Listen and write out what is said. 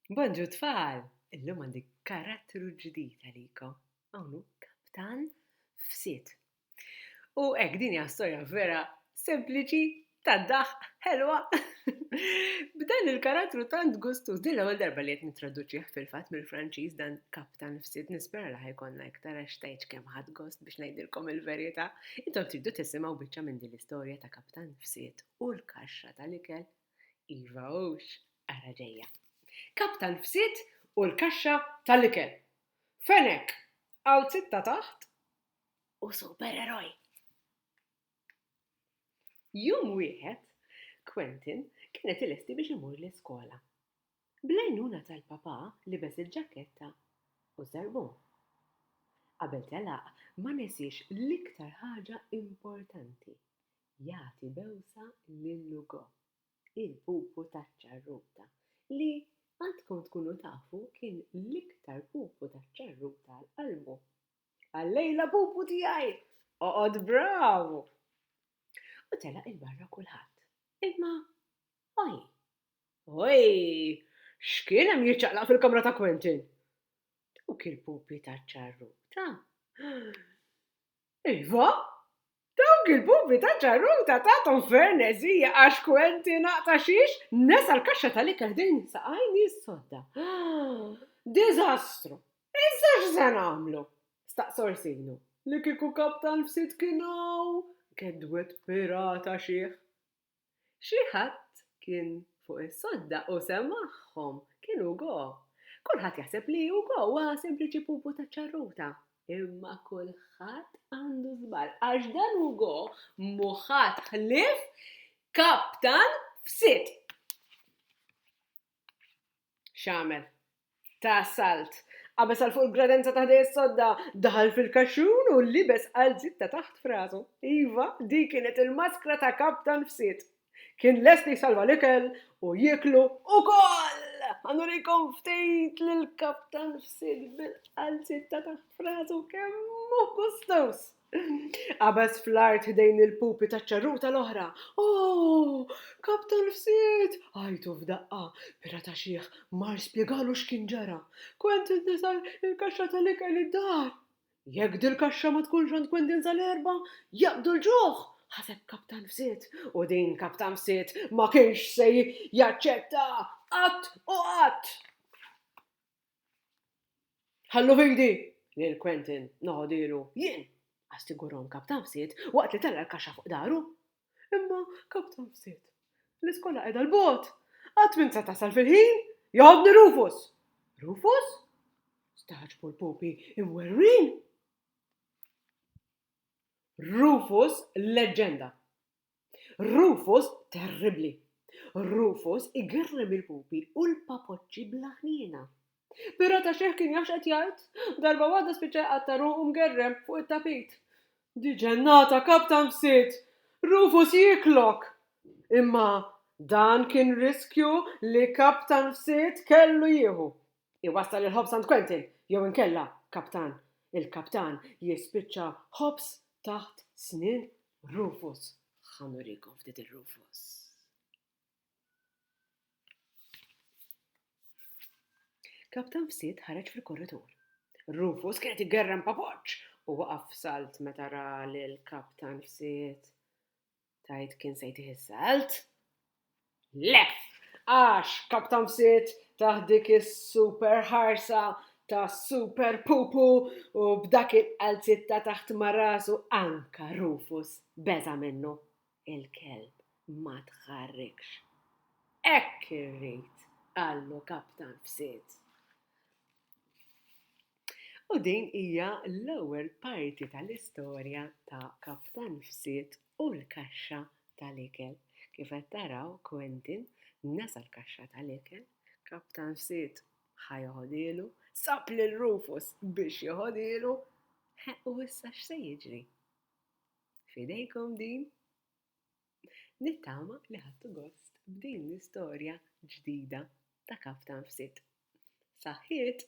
Bonġu tfal! Illum għandi karattru ġdid għalikom. Hawn kaptan f'sit. U hekk din hija storja vera sempliċi ta' daħ ħelwa. B'dan il-karattru tant gustuż din l-ewwel darba li qed nittraduċih fil-fatt mill-Franċiż dan kaptan f'sit nispera li ħajkonna iktar għax tgħidx kemm ħadd gost biex ngħidilkom il-verità. Intom tridu tisimgħu biċċa minn din l-istorja ta' kaptan f'sit u l-kaxxa tal-ikel. Iva hux, ara ġejja. Kap tal-fsied u l-kaxxa tal-ikel. Fenek, għal sitta taħt u supereroj. Jum wieħed, Quentin kienet ilesti biex imur l-iskola. Blajnuna tal-papa libes il-ġaketta u zarbun. Qabel telaq ma nesiex l-iktar ħaġa importanti, jagħti bewsa lil Ugo, il-pupu taċ-ċarruta, li għandkom tkunu tafu kien l-iktar pupu taċ-ċarruta għal qalbu. Għal-lejla pupu tiegħi! Oqgħod bravu! U telaq il-barra kulħadd. Imma oj! Oj! X'kien hemm jiċċaqlaq fil-kamra ta' Quentin? Dawk il-pupi taċ-ċarruta Iva, dawk il-bubi ta' ġarruta tagħthom ferneżija għax kwenti naqta' xiex nesa l-kaxxa tal-ikel ħdejn saqajni s-sodda. Diżastru! Issa x'se nagħmlu? staqsa Orsino, li kieku kaptan f'sidkinau, gedwed pirata xiħ. Xi ħadd kien fuq is-sodda u semagħhom, kien Hugo. Kulħadd jaħseb li Hugo huwa sempliċi pupu taċ-ċarruta. Imma kulħadd għandu żball għax dan Hugo mhu ħadd ħlief kaptan f'sit. X'għamel? Ta' salt. Qabeż għal fuq il-gradenza ta' ħdejja s-sodda, daħal fil-kaxxun u libes qalziet ta' taħt f'rasu. Iva, dik kienet il-maskra ta' kaptan f'sid. Kien lest li jsalva l-ikel u jieklu ukoll! Ħa nurikom ftit lill-kaptan f'sid bil-qalziet ta' taħt f'rasu kemm hu gustoż! Qabeż fl-art ħdejn il-pupi taċ-ċarruta l-oħra. Oh! Kap tal-fsied! għajtu f'daqqa. Pirata xiħ mar spjegalu x'kien ġara. Quentin tisel il-kaxxa tal-ikel id-dar. Jekk dil-kaxxa ma tkunx għand Quentin sal-Erbgħa, jaqbdu l-ġuħ! ħaseb kap tal-fsied. U din kap tal-fsied ma kienx se jaċċetta qatt u qatt! Ħallu f'idi! Lil Quentin noħodielu jien! assigurom Kaptafsit waqt li tella' l-kaxxa fuq dahru. Imma, Kaptafsit, l-iskola qiegħda 'l bogħod! Qatt m'int se tasal fil-ħin! Joħodni Rufus! Rufus? stagħġbu l-pupi imwerwrin. Rufus leġġenda! Rufus terribbli! Rufus igerrem il-pupi u l-papoċċi bla ħniena. Però ta' xejn kien jaf x'qed jgħid. Darba waħda spiċċa jqatta' ruħu mgerrem fuq it-tapit. Di ġennata kap tanfsiet! Rufus jieklok! Imma dan kien riskju li kap tanfsiet kellu jieħu. Iwassal il-ħobż għand Quentin, jew inkella Kaptan. Il-Kaptan jispiċċa ħobż taħt snien Rufus. Ħa nurikom ftit ir-Rufus. Kaptan fsit ħareġ fil-korritur. Rufus kienet igerrem papoċ u waqaf salt meta ra l-kaptan fsit. Tgħid kien se jtih is-salt? Le! Għax Kaptan Fsit tah dik is-super ħarsa ta' super pupu u b'dak il-qalziet ta' taħt ma' rasu anka Rufus beża' minnu. Il-kelb ma tħarrikx. Hekk irrid! qallu Kaptan Fsit. U din hija l-ewwel parti tal-istorja ta' Kap tan-Nfsiet u l-Kaxxa tal-Ikel. Kif qed taraw, Quentin nesa l-kaxxa tal-ikel, Kap tan-Nfsiet ħa joħodhielu, sab lil Rufus biex joħodhielu, u issa x'se jiġri? F'idejkom din! Nittama li ħadtu gost b'din l-istorja ġdida ta' Kap tan-Nfsiet. Saħħiet!